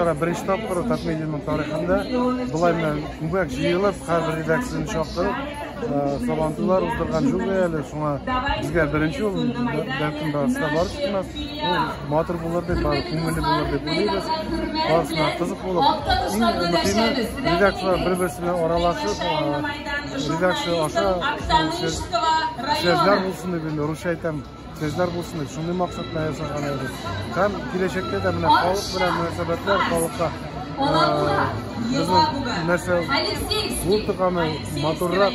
чара беренче тапкыр татмедианың тарихында былай менә күбәк җыелып хәзер редакцияне чактырып сабантуйлар уздырган юк әле шуңа безгә беренче ул бәлкем барысына барып чыкмас Ул матур булыр дип, бары күңелле булыр дип уйлыйбыз. Барысына кызык булып, иң мөһиме редакцияләр бер-берсе белән аралашып, редакция аша сүзләр булсын дип, инде русча әйтәм, сүзләр булсын дип, шундый максат белән ясаган идек. Һәм киләчәктә дә менә халык белән мөнәсәбәтләр, халыкка безнең нәрсә булдыганы матуррак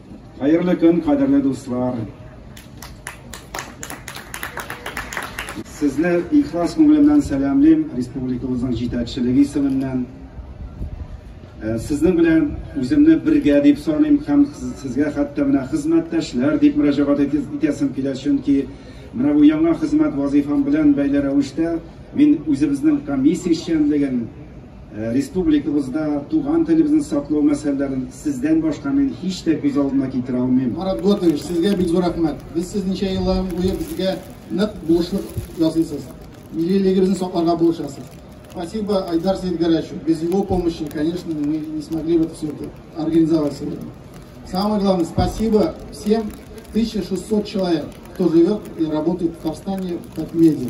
Хәерле көн, кадерле дуслар! Сезне ихлас күңелемнән сәламлим, республикабызның җитәкчелеге исеменнән. Э, сезнең белән үземне бергә дип саныйм һәм сезгә хәтта менә хезмәттәшләр дип мөрәҗәгать итәсем килә, чөнки менә бу яңа хезмәт вазифам белән бәйле рәвештә мин үзебезнең комиссия эшчәнлеген Республикабызда туган телебезне саклау мәсьәләләрен сездән башка мин һич тә күз алдына китерә алмыйм. Марат Готович, сезгә бик зур рәхмәт. Без сез ничә еллар буе безгә нык булышлык ясыйсыз. Миллилегебезне сакларга булышасыз. Спасибо, Айдар Сидгарачу. Без его помощи, конечно, мы не смогли бы все это организовать сегодня. Самое главное, спасибо всем 1600 человек, кто живет и работает в Татарстане в Татмеде.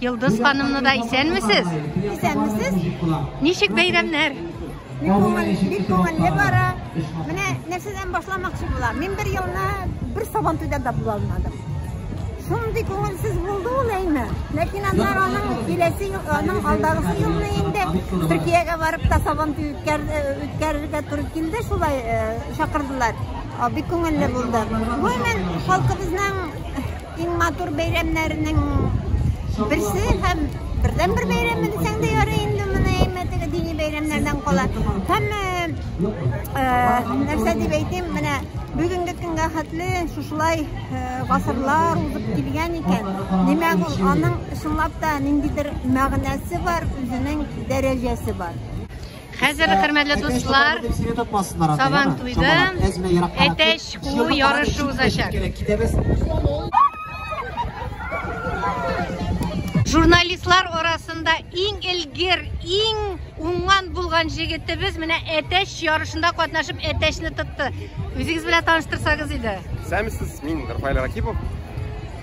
Йылдыз ханымны да исәнмесез? Исәнмесез. Ничек бәйрәмнәр? Бик күңел, бик күңелле бара. Менә нәрсәдән башламакчы була. Мин бер елны бер сабан туйда да була алмадым. Шундый күңелсез булды ул әйме. Ләкин аннар аның киләсе ел, аның алдагысы елны инде Төркиягә барып та сабан туй үткәрергә туры килде, шулай чакырдылар. Бик күңелле булды. Гомумән, халкыбызның Иң матур бәйрәмнәрнең берсе һәм бердән бер бәйрәм дисәң дә ярый инде моны әймәтеге дини бәйрәмнәрдән кала. Һәм нәрсә дип әйтим, менә бүгенге көнгә хәтле шушылай гасырлар узып килгән икән. Димәк, ул аның чынлап та ниндидер мәгънәсе бар, үзенең дәрәҗәсе бар. Хәзер хөрмәтле дуслар, Сабан туйда әтәч куу ярышы узачак. Журналистлар арасында иң элгер, иң уңган булган җегетебез менә әтәч ярышында катнашып әтәчне тотты. Үзегез белән таныштырсагыз иде. Сәмсез, мин Рафаэль Ракипов.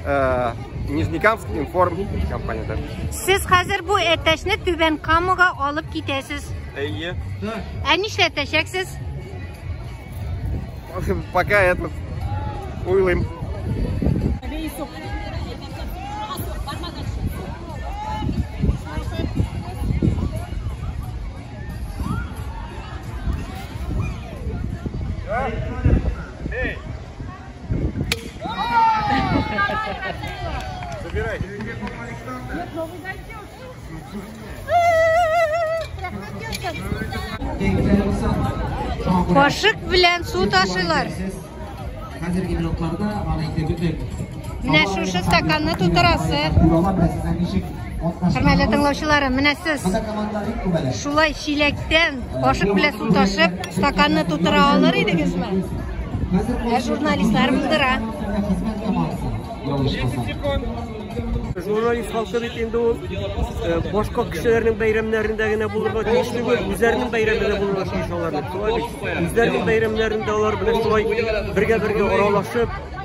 Э, Нижнекамск информ компанияда. Сез хәзер бу әтәчне Түбән Камага алып китәсез. Әйе. Ә нишләтәчәксез? Пока этот уйлыйм. Забирай. Кашык белән су ташыйлар. Хәзерге минутларда аны инде бөтен. Менә шушы стаканны тутырасы. Хөрмәтле тыңлаучыларым, менә сез шулай чиләктән кашык белән су ташып, стаканны тутыра алыр идегезме? Ә журналистлар булдыра. Журналист халкы бит инде ул э, башка кешеләрнең бәйрәмнәрендә генә булырга тиеш түгел, үзләренең бәйрәмендә булырга тиеш алар. Үзләренең бәйрәмнәрендә алар белән шулай бергә-бергә аралашып,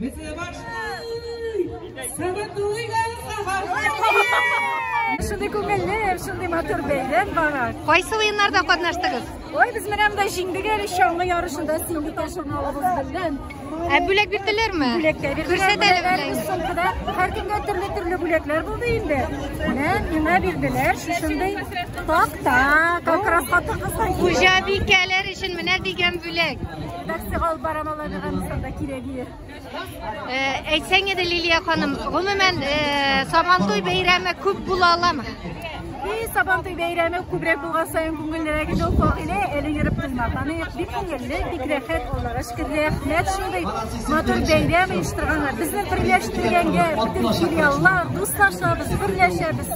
Бетле башлый! Сәбәтлуй Шундый күңелле, шундый матур бәйрәм бара. Кайсы уеннарда катнаштыгыз? Ой, без менә монда җиңдек әле чаңгы ярышында сиңги ташламалыбыз белән. Ә бүләк бирделәрме? Бүләкләр бирделәр. Күрсәтәле бүләкне. Шулкыда һәр кемгә төрле-төрле бүләкләр булды инде. Менә миңа бирделәр шушындый такта, как раз хатын-кызлар. Хуҗабикәләр өчен менә дигән бүләк. Нәрсә алып барам алар Әфганстанда кирәге? Э, әйтсәң иде Лилия ханым, гомумән э, Сабантуй бәйрәме күп була аламы? И Сабантуй бәйрәме күбрәк булган саен күңеллерәк иде ул Фагилә, әле йөреп тыңлап. Аны бик күңелле, бик рәхәт, Аллага шөкер, рәхмәт шундый матур бәйрәм оештырганга. Безне берләштергәнгә бөтен филиаллар, дуслашабыз, берләшәбез.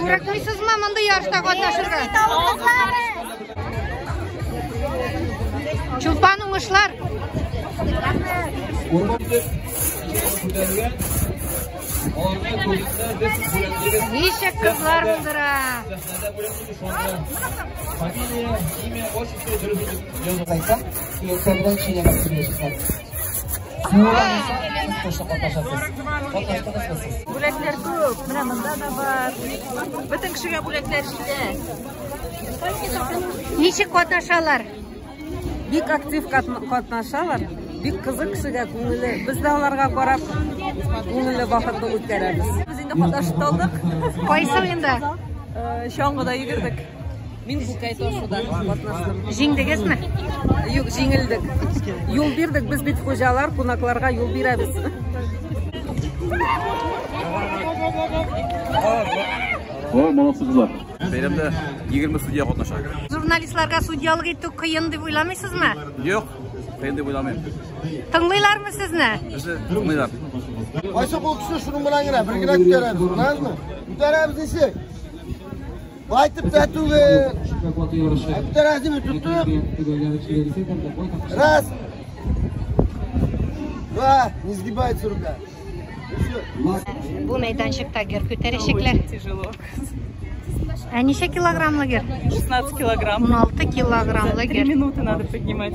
Курыкмыйсызмы мондый ярышта катнашырга? Чулпан уңышлар. Ничек кызлар булдыра. Фамилия, имя, отчество, дөрес язып кайтсам, Бүләкләр күп, менә монда да бар. Бөтен кешегә бүләкләр җитә. Ничек катнашалар? Бик актив катнашалар. Бик кызык кешегә күңеле. Без дә аларга карап күңелле вакытны үткәрәбез. Без инде катнашып алдык. Кайсы уенда? Чаңгыда йөгердек. Мин бу кайтошуда катнаштым. Җиңдегезме? Юк, җиңелдек. Юл бирдек, без бит хуҗалар, кунакларга юл бирәбез. О, молодцы кызлар. Бәйрәмдә 20 судья катнаша. Журналистларга судьялык итү кыен дип уйламыйсызмы? Юк, кыен дип уйламыйм. Тыңлыйлармы сезне? Безне тыңлыйлар. Кайсы кул кеше шуның белән генә бергә күтәрәбез, күрәсезме? Күтәрәбез ничек? Кайтып та түгел. Әптәрәзиме тоттык. Раз. Два. Не сгибается рука. Бу мәйданчыкта гер күтәрәчәкләр. Тяжело. А ничә килограммлы гер? 16 килограмм. 16 килограммлы гер. 3 минуты надо поднимать.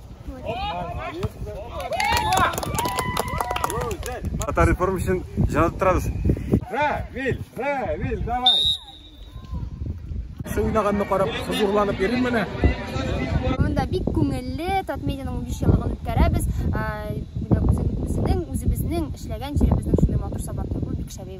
Татар реформ өчен җанат торабыз. Равил, Равил, давай. Су уйнаганны карап, хозурланып йөрим менә. Монда бик күңелле Татмедианың 5 еллыгын үткәрәбез. Ә, үзебезнең, үзебезнең эшләгән җиребезнең шундый матур сабаклыгы бик шәбәй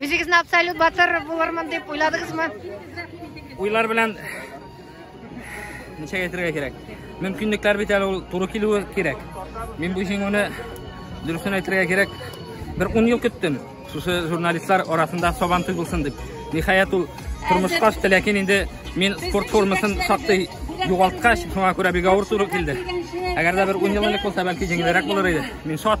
Үзегезне абсолют батыр булырмын дип уйладыгызмы? Уйлар белән ничек әйтергә кирәк? Мөмкинлекләр бит әле ул туры килүе кирәк. Мин бу җиңүне дөресен әйтергә кирәк, бер 10 ел көттем. Шушы журналистлар арасында сабан туй булсын дип. Ниһаять ул тормышка төште, ләкин инде мин спорт формасын шактый югалткач, шуңа күрә бик авыр туры килде. Әгәр дә бер 10 ел элек булса, бәлки җиңелрәк булыр иде. Мин шат.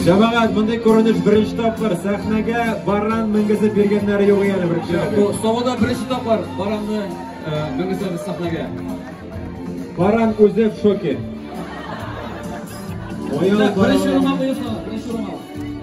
Җәмәгать, мондый күренеш беренче тапкыр сәхнәгә баран менгезеп биргәннәре юк әле беренче. Бу Савада беренче тапкыр баранны менгезеп сәхнәгә. Баран үзе в шоке. Оял баран. Беренче урынга куйсагыз, беренче урынга.